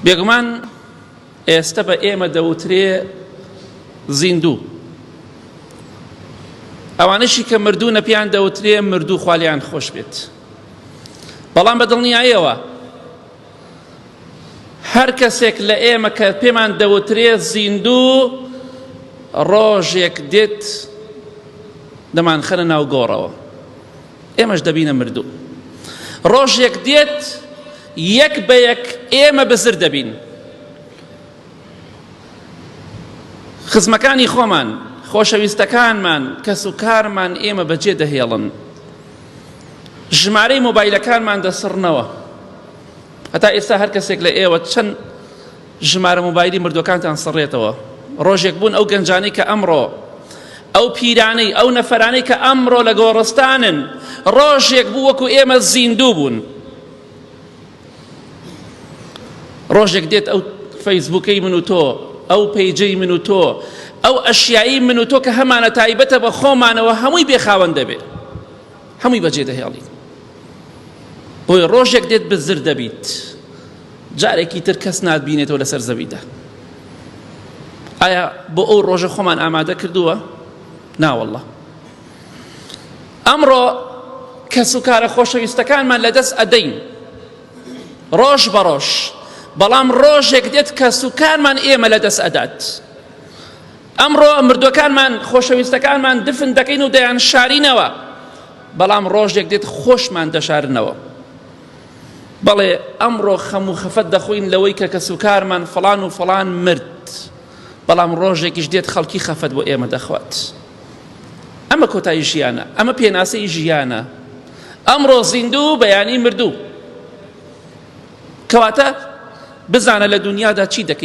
بێگومان ئێستا بە ئێمە دەوترێ زیندوو ئەوانشی کە مردوو نەپیان دەوترێ مردوو خالیان خۆش بێت بەڵام بە دڵنیایەوە هەر کەسێک لە ئێمە کە پێمان دەوترێ زیندوو ڕۆژێک دێت دەمانخەنە ناو گۆڕەوە ئێمەش دەبینە مردوو. ڕۆژێک دێت یەک بە یەک ئێمە بزر دەبین. خزمەکانی خۆمان، خۆشەویستەکانمان، کەس و کارمان ئێمە بەجێ دەهێڵن. ژمارەی مۆبایلەکانمان دەسڕنەوە هەتا ئێستا هەر کەسێک لە ئێوە چەند ژمارە مۆبایلی مردوەکانتان سڕێتەوە ڕۆژێک بوون ئەو گەنجانەی کە ئەمڕۆ ئەو پیرانەی ئەو نەفەرانەی کە ئەمڕۆ لە گۆڕستانن ڕۆژێک بوو وەکو ئێمە زیندوو بوون ڕۆژێک دێت ئەو فەیسبووکەی من و تۆ ئەو پەیجەی من و تۆ ئەو ئەشیایی من و تۆ کە هەمانە تایبەتە بە خۆمانەوە هەمووی بێخاوەن دەبێت هەمووی بەجێ دەهێڵیت بۆی ڕۆژێک دێت بزر دەبیت جارێکی تر کەس ناتبینێتەوە لەسەر زەویدا ئایا بۆ ئەو ڕۆژە خۆمان ئامادە کردووە ناوەله ئەمڕۆ کەس و کارە خۆشەویستەکانمان لەدەست ئەدەین ڕۆژ بە ڕۆژ بەڵام ڕۆژێک دێت کە سوکانمان ئێمە لە دەست ئەدات ئەمڕۆ مردوەکانمان خۆشەویستەکانمان دفن دەکەین و دەیان شارینەوە بەڵام ڕۆژێک دێت خۆشمان دەشارنەوە بەڵێ ئەمڕۆ خەم و خەفەت دەخۆین لەوەی کە کەس و کارمان فەڵان و فەڵان مرد بەڵام ڕۆژێکیش دێت خەڵکی خەفەت بۆ ئێمە دەخوات ئەمە کۆتایی ژیانە ئەمە پێناسەی ژیانە ئەمڕۆ زیندوو بەیانی مردوو کەواتە بزانە لە دنیادا چی دەکەیت